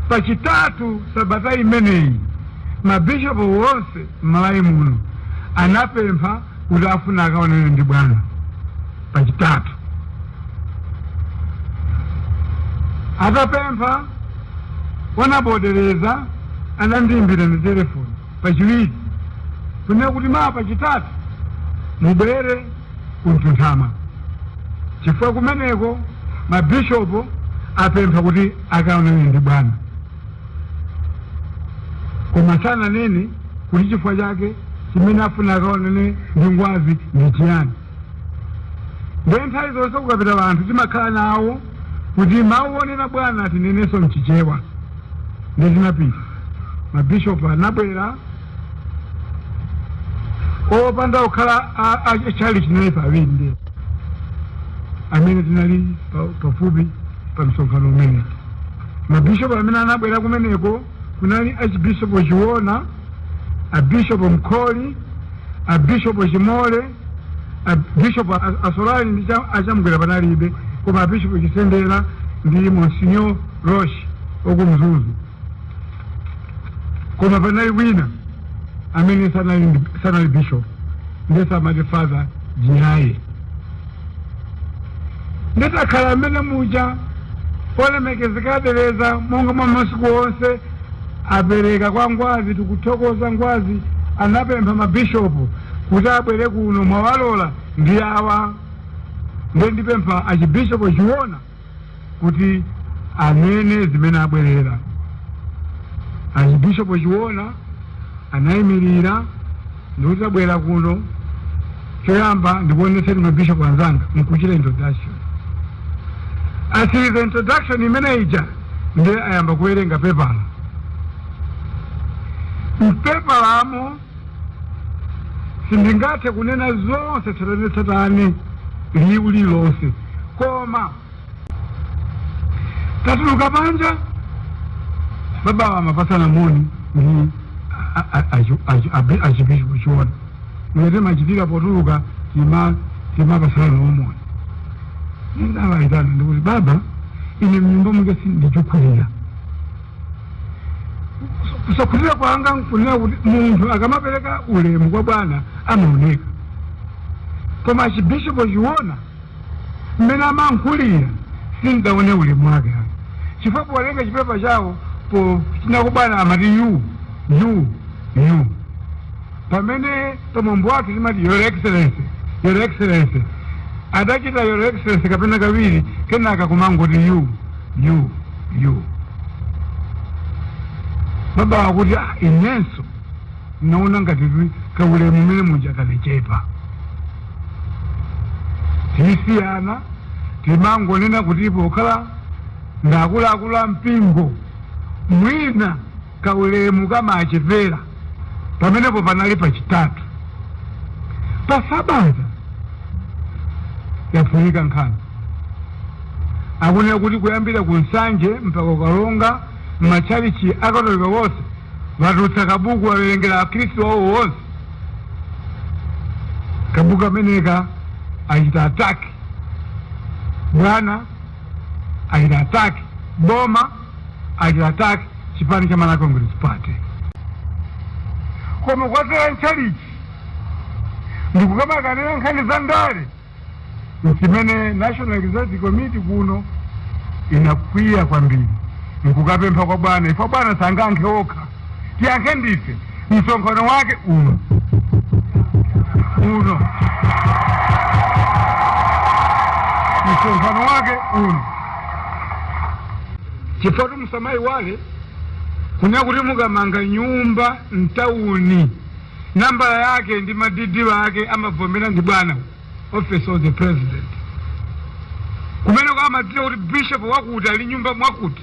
Pachitatu sabata imeneyi, mabishopu wonse m'Malawi muno anapempha kuti afuna akaonane ndi bwana Pachitatu. Atapempha Honourable Deleza anandiimbira na telefoni. pachiwiri kunena kuti mawa pachitatu mubwere ku mtunthama chifukwa kumeneko mabishopu apempha kuti akaonane ndi bwana koma sananene kuti chifukwa chake chimene afuna akaonane ndi ngwazi ndi chiyani ndiye nthawi zonse kukapita anthu timakhala nawo kuti mawu onena bwana tinenenso mchichewa ndiye tinapita mabishopu anabwera opanda kukhala a- a- a chalichi naye pawindi amene tinali pa- pafupi pa msonkhano umene mabishopu amene anabwera kumeneko Kunali Archbishopo Chiona, a Bishopo Mkhori, a Bishopo Chimole, a Bishopo a- Assolari ndi cha- a Chamgwera panalibe, koma a Bishopo Chisendera ndi Monsignor Roche oku Mzuzu. Koma panali wina amene sanali ndi- sanali bishop ndiye samati father Jinyaye. nditakhala amene muja olemekezeka a Deleza monga mwa masiku onse apereka kwa ngwazi tikuthokoza ngwazi anapempha mabishopu kuti abwere kuno mwawalola ndi awa ndiye ndipempha achibishopu chiona kuti anene zimene abwerera archbishop chiona anayimirira ndikuti tabwera kuno choyamba ndikuonetseni mabishop anzanga nkuchita introduction atsiriza introduction imene ija ndiye ayamba kuwerenga pepala mpepalamo Sindingathe kunena zonse tsatanetsatane liwu lililonse, koma tatuluka panja, babawa amapatsana moni ndi a- a- a- achi- achi- abi- achibishopu chiona monga timachitira potuluka tima timapatsana nawo moni nde ndawaitana ndikuti baba ine mnyumba mwake sindikukhutira kusakhutira kwanga nkunena kuti munthu akamapereka ulemu kwa bwana amaoneka koma achibishopo chiona mmene amalankhulira sindidaone ulemu wake ayi chifukwa powerenga chipepa chawo ponena kwa bwana amati you you you pamene pamwambo wake timati your excellency your excellency adachita your excellency kapena kawiri kenaka kumangoti you you yo baba akuti "Ah, inenso naona ngati kaulemu mmene muja kanachepa tisiyana timangonena kuti pokhala ndakuluakulu a mpingo mwina kaulemu kamachepera pamenepo panali pachitatu pa sabata yaphulika nkhani akunena kuti kuyambira ku Nsanje mpaka ku Karonga m'matchalichi akatolika wonse watulutsa kabuku wawerengera akhristu wawo wonse kabuku ameneka achita attack bwana achita attack boma achita attack chipani cha Malawi Congress Party. Koma kudzera m'tchalichi ndikukamakanira nkhani za ndale nchimene National Executive Committee kuno inakwiya kwambiri nkukapempha kwa bwana ife abwana sangayankhe okha tiyankhe ndife msonkhano wake uno uno msonkhano wake uno chifukwa kuti musamaiwale kunena kuti mukamanga nyumba mtawuni nambala yake ndi madidi ake amavomera ndi bwana office of the president kumeneko amadziwa kuti bishop wakuti ali nyumba mwakuti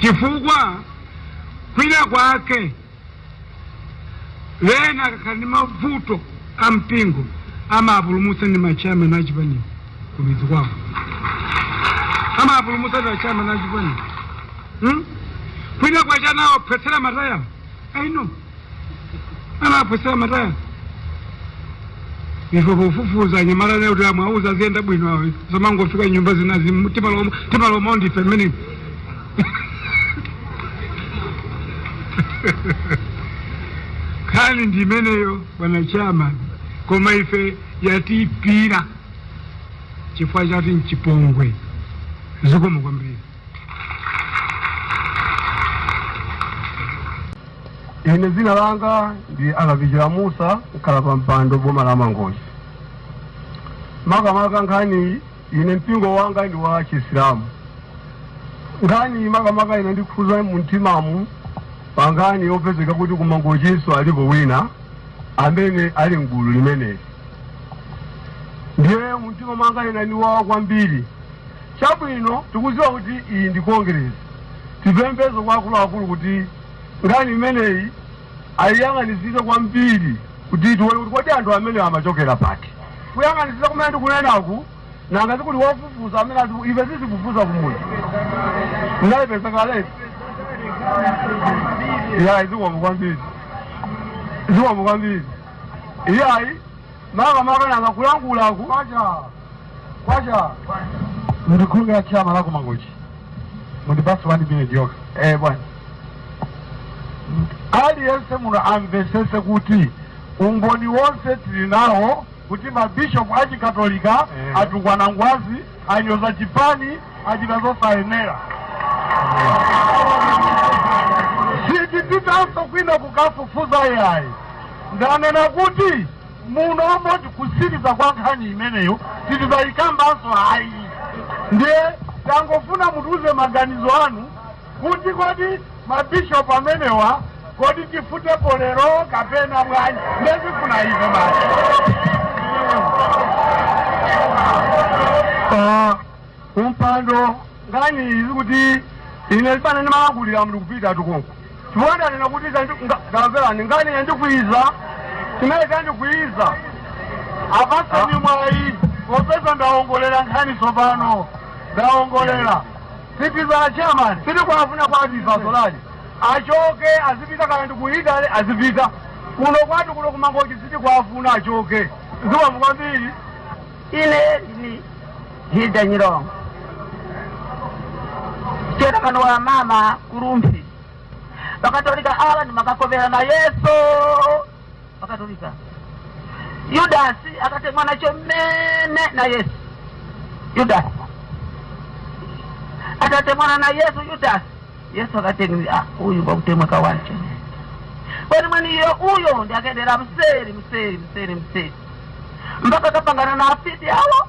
chifukwa kwina kwake wena akakhala ndi mavuto a mpingo amapulumutsa ndi ma chairman a chipani kumidzi kwawo amapulumutsa ndi ma chairman a chipani hmm? kwina kwache anawaphwetsera matayala aino anawaphwetsera matayala ife pofufuza anyamata lero kuti amawauza aziyenda bwino awo samangofika nyumba zinazi mu- timalola timalola ndife mmene nkhani ndi imeneyo bwana chairman koma ife yatiipira chifukwa choti nchipongwe zikomo kwambiri ine dzina langa ndi a Kapichira Musa mkhalapampando boma la Mangochi makamaka nkhani ine mpingo wanga ndi wa chisilamu nkhani makamaka inandikhudza mumtimamu pa nkhani yopezeka kuti ku Mangochinso alipo wina amene ali mgulu limeneli ndiye mumtima mwanga inandiwawa kwambiri Chabwino, tikudziwa kuti iyi ndi Kongeresi. Tipemphenso kwa akuluakulu kuti nkhani imeneyi ayiyang'anitsitse kwambiri kuti tione kuti kodi anthu amenewa amachokera pati. Kuyang'anitsitsa kumene ndikunenaku, nanga sikuli wofufuza amene azifu, ife sitifufuza kumudzi. Ndinayipeza kaletu. Iyayi, zikomo kwambiri. Zikomo kwambiri. Iyayi. maka maka nanga kulankhula ku kwacha kwacha mndikhumbira chairman wa ku Mangochi mundipatse wani minute yokha eh bwana aliyense muno amvetsetse kuti umboni wonse tili nawo kuti mabishopu achikatolika atukwana ngwazi anyoza chipani achita zosayenera sitipitanso kwina kukafufuza yayi ndanena kuti muno moti kutsiriza kwa nkhani imeneyo sitizayikambanso ayi ndiye tangofuna mutiuze maganizo anu kuti kodi ma bishop amenewa kodi tifutepo lero kapena bwanji nde zifuna ife basi Akumpando nkhani izi kuti ine zimene ndimalankhulira muli kupita tukunku chifukwa ndanena kuti ndamverani nkhani yandikwiza chimene chandikwiza apatseni mwayi popeza ndawongolera nkhani tsopano ndawongolera Mister chairman sitikuwafuna kwathu ife Assolari achoke azipita kaya ndi ku Italy azipita kuno kwathu kuno ku Mangochi sitikuwafuna achoke zikomo kwambiri. Ine ndine Hilda Nyirongo chairman wa mama ku Rumphi bakatolika awa ndimakakopera na Yesu Bakatolika. Yudasi akatemwa nacho mmene na Yesu. Yudasi atatemwana na Yesu Yudasi. Yesu akateni ah, uyu bakutemwa kawacho. Kwani mwani iyo uyo ndi akendera mseri mseri mseri mseri mpaka akapangana na afiti awo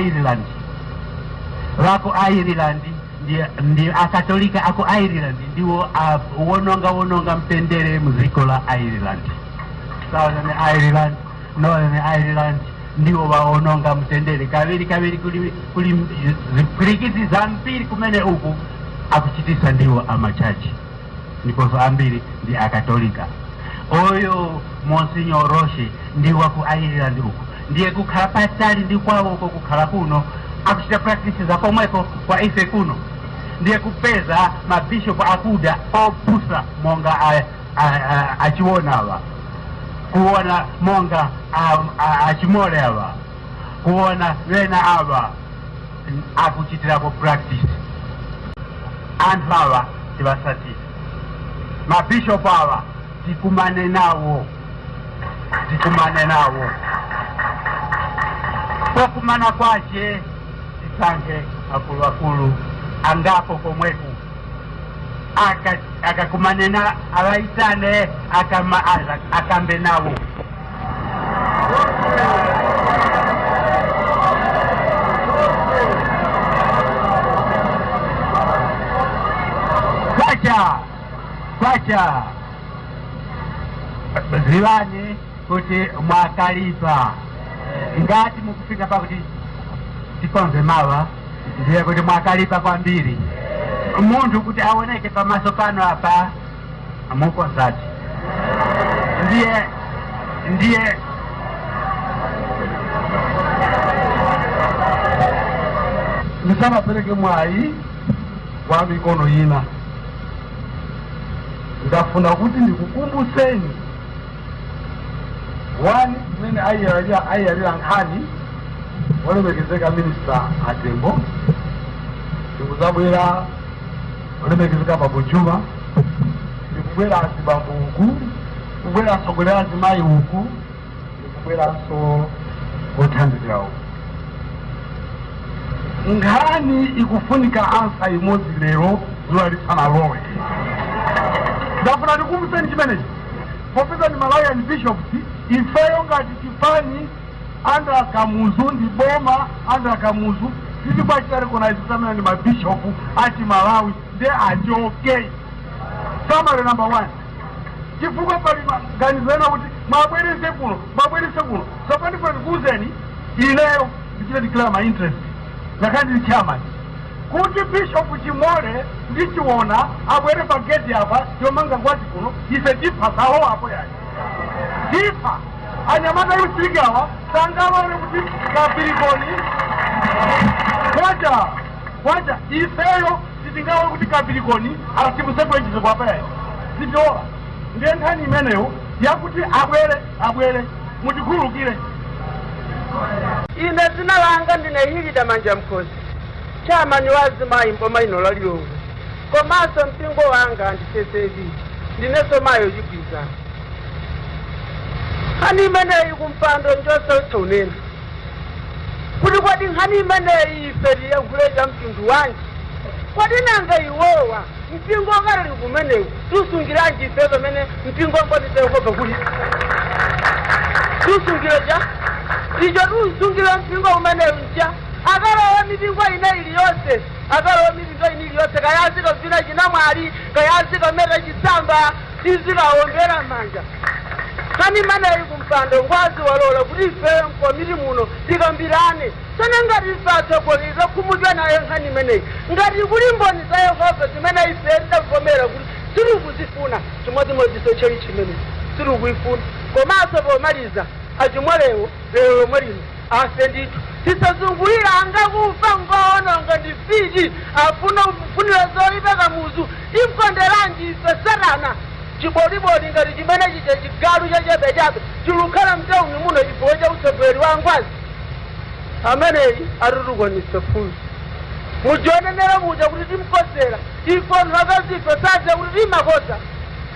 ireland wa ku ireland ndi, ndi akatolika aku ireland ndiwo awononga wononga mtendere mdziko la ireland southern ireland northern ireland ndiwo waononga mtendere kawirikawiri kuli, kuli zipwirikiti zambiri kumene uku akuchitisa ndiwo amachachi ndiponso ambiri ndi akatolika uyu Monsignor Roche ndi wa ku ireland uku ndiye kukhala patali ndi kwawo uko kukhala kuno akuchita practice za komweko kwa ife kuno ndiye kupeza mabishopu akuda opusa monga a- a- a- a Chiona awa kuona monga a- a- a Chimole awa kuona wena awa akuchitirapo practice anthu awa tiwasatire ma bishop awa tikumane nawo tikumane nawo pokumana kwache tisankhe akuluakulu angapo komweku Aka- akakumane na awaitane akama- akambe nawo kwacha kwacha ziwani kuti mwakalipa ngati mukufika pakuti tikonze mawa ndiye kuti mwakalipa kwambiri munthu kuti aoneke pamaso pano apa mukozati ndiye ndiye ndisanapereke mwayi kwa mikono ina ndafuna kuti ndikukumbuseni wani mmene ayiyalira ayiyalira nkhani olemekezeka minista atembo ndikuzabwera olemekezeka bambo juma ndikubwera azibambo uku kubwera atsogoleri azimayi uku ndikubweranso othandizira uku nkhani ikufunika ansa imodzi lero zuwa lisanalowe ndafuna ndikumbuseni chimenechi popeza ndi malawian bishops ifeyo ngati chipani Anthu a Kamuzu ndi boma, anthu a Kamuzu sitikuwachita recognize kuti amenewa ndi ma bishop a chi Malawi nde achoke. Summary number one, chifukwa pali maganizo ena kuti mwabwerese kuno, mwabwerese kuno. Tsopano ndifuna ndikuwuzeni ineyo ndichite declare my interest ngakhale ndili chairman kuti bishop chimole ndi chiona abwere pa gate apa yomanga ngwazi kuno ife tipha salowa apo yayi tipha anyamata a youth league awa sangalole kuti kapirikoni kwacha kwacha ifeyo sitingalole kuti kapirikoni timusekulire chiseko apa yayi sitilola ndiye nkhani imeneyo yakuti abwere abwere mutikhululukire ine dzina langa ndine hilida manjamkhosi chairman wa azimayi mboma ino la lilongwe komanso mpingo wanga ndi ccap ndinenso mayi wachigwirizano nkhani imeneyi kumpando njosautsa kunena kuti kodi nkhani imeneyi ife tiyankhule cha mtundu wanji kodi nanga iwowa mpingo wakatolika umenewu tiusungiranji ife pamene mpingo mboni za yehova kuli tiusungire cha icho tiusungire mpingo umenewu nja akalowa mipingo ina iliyonse Akalowe midzi ina iliyonse, kaya azikavina chinamwali, kaya azikameta chisamba, tizikawombera m'manja. Nkhani imeneyi ngampando Ngwazi walola kuti ife mkomiti muno tikambirane. Tsono ngati ife atsogoleri takhumudwa nayo nkhani imeneyi. Ngati kuli mboni za Yehova zimene ife tidavomera kuti sitikuzifuna chimodzimodzinso tchalitchi imeneyi sitikuyifuna. Komanso pomaliza a Chimwalewo lero lomwe lino Afe ndithu tisazungulire anga kufa ngoononga ndi fiti akumufunira zoipa kamuzu timkonderanji ife satana chiboliboli ngati chimene chija chigalu chachabechabe chilukhala mtauni muno chifukwa cha utsogoleri wa ngwazi ameneyi atitukwanise funso mujanenera muja kuti timkonzera ife anthu akazife zadza kuti timakonza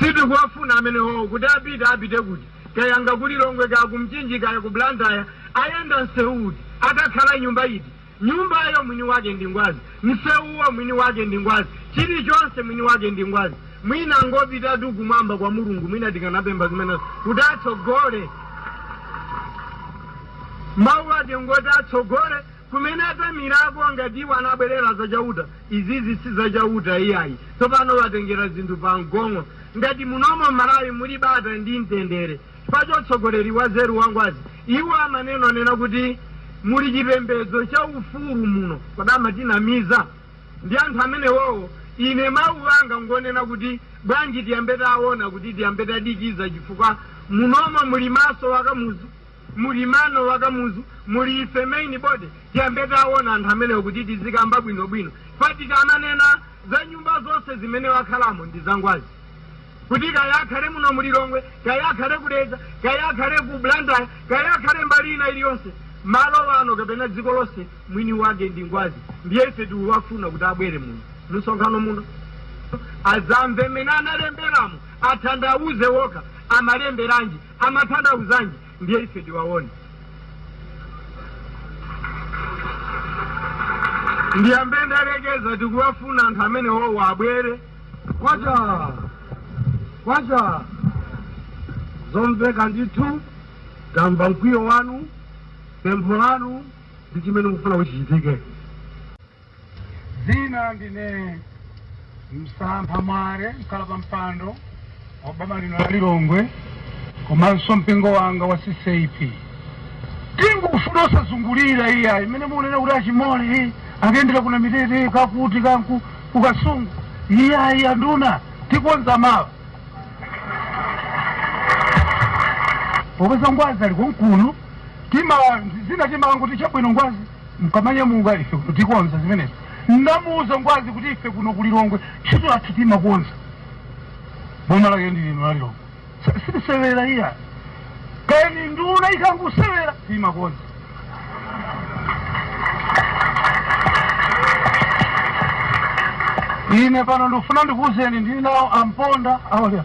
sitikuwafuna amenewo kuti apite apite kuti kayanga ku Lilongwe kaya ku Mchinji kaya ku Blantyre ayenda msewu uti akakhala m'nyumba iti Nyumbayo mwini wake ndi Ngwazi, msewuwo mwini wake ndi Ngwazi, chilichonse mwini wake ndi Ngwazi. Mwina angopitatu kumwamba kwa Mulungu, mwina tikanapempha zimenezo kuti atsogole. Mawu ake ngoti atsogole kumene athamirako ngati iwo amabwerera za Chauta. Izizi si za Chauta iyayi, tsopano watengera zinthu pa mgong'o. Ngati munomo m'Malawi muli bata ndi mtendere, Chifukwa cha utsogoleri wanzeru wa Ngwazi iwo amanenanena kuti muli chipembedzo cha ufulu muno kodi amatinamiza ndi anthu amenewowo ine mau anga ngonena kuti bwanji tiyambe taona kuti tiyambe tadekha chifukwa munomo muli maso a Kamuzu muli mano a Kamuzu muli ife main body tiyambe taona anthu amenewo kuti tizikamba bwinobwino chifukwa tikamanena za nyumba zonse zimene wakhalamo ndi za Ngwazi. kuti kaya akhale muno mu Lilongwe, kaya akhale ku Dedza, kaya akhale ku Blantyre, kaya akhale mbali ina iliyonse, malo ano kapena dziko lonse, mwini wake ndi Ngwazi. Ndiye ife tikuwafuna kuti abwere muno mumsonkhano muno azamve mmene analemberamo athandauze okha amalemberanji amathandauzanji ndiye ife tiwaone ndiyambe ndalekeza tikuwafuna anthu amenewowo abwere kwacha kwacha zomveka ndithu tamva mkwiyo wanu pempho lanu ndi chimene mukufuna kuti chichitike dzina ndine Msampha Mwale mkhalapampando wa boma lino la lilongwe komanso mpingo wanga wa ccap tingufuna osazungulira iya imene mukunena kuti achimole akayendera ku namitete kakuti kanku kukasungu iyayi anduna tikonza mawa popeza ngwazi ali konkuno tima zina timangoti chabwino ngwazi mkamanyamuka ife kuno tikonza zimenezo ndamuuza ngwazi kuti ife kuno ku lilongwe ntchito yathu timakonza boma lake ndi lino la lilongwe S- sitisewera iya kani nduna ikangusewera timakonza ine pano ndikufuna ndikuuzeni ndili nawo amponda awalya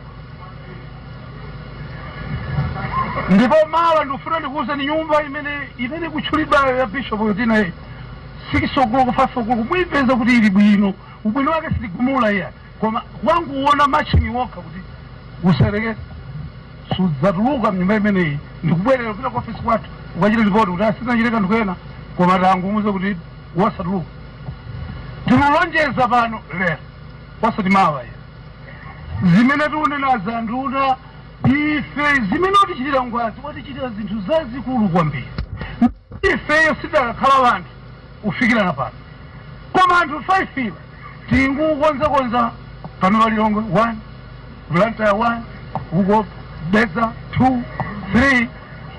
ndipo mawa ndikufuna ndikuwuzeni nyumba imene imene ikutchulidwayo ya bishop yotinayi 6 o'clock 5 o'clock muyipeza kuti ili bwino ubwino wake sitigumula iya koma wanguwona matchini wokha kuti usereke sudzatuluka mnyumba imeneyi ndikubwerera kupita ku ofisi kwathu ukachita lipoti kuti asinachite kanthu kena koma tangumuuza kuti wasatuluka tikulonjeza pano lero osati mawa iya zimene tikunena za nduna ife zimene watichitira ngwazi watichitira zinthu zazikulu kwambiri ifeyo sidakakhala wanthu kufikira na pano koma anthu 5 iwa tingukonzakonza pano wa lilongwe 1 blantyre 1 uko dedza 2 3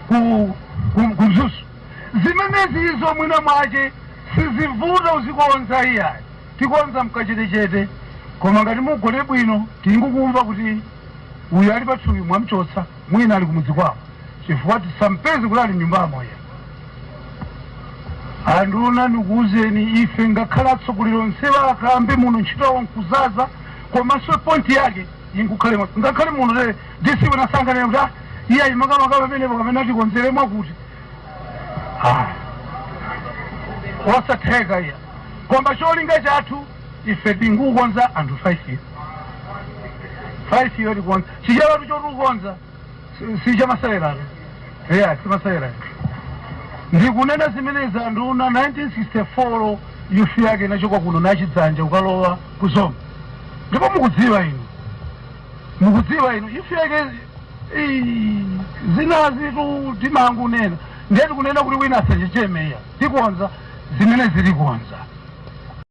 ku ku- ku mzuzu zimenezi izo mwina mwace sizivuta uzikonza iyayi Tikonza mkachetechete koma ngati mugone bwino tingukumva kuti uyu ali pathupi mwamchotsa mwina ali kumudzi kwawo chifukwa tisampeze kuti ali mnyumbamo iya. Anduna ndikuuzeni ife ngakhale atsogoleri onsewa akambe muno ntchito yawo nkuzaza komanso point yake inkukhale mwa- ngakhale muno lere disi wina sanganene kuti "iyayi makamaka pamenepo kapena atikonzere mwakuti Ah, osatheka iya Koma cholinga chathu ife tingukonza anthu 5 yo. 5 yo tikonza. Chichewatu choti kukonza. si- Si chamasewera. Yeah, si masewera. Ndikunena zimenezi anduna 1964 youth yake inachoka kuno na Chidzanja ukalowa ku Zomba. Ndipo mukudziwa inu. mukudziwa inu youth yake zinazitu timangunena ndiye tikunena kuti wina asachicheme iya tikonza zimene zilikonza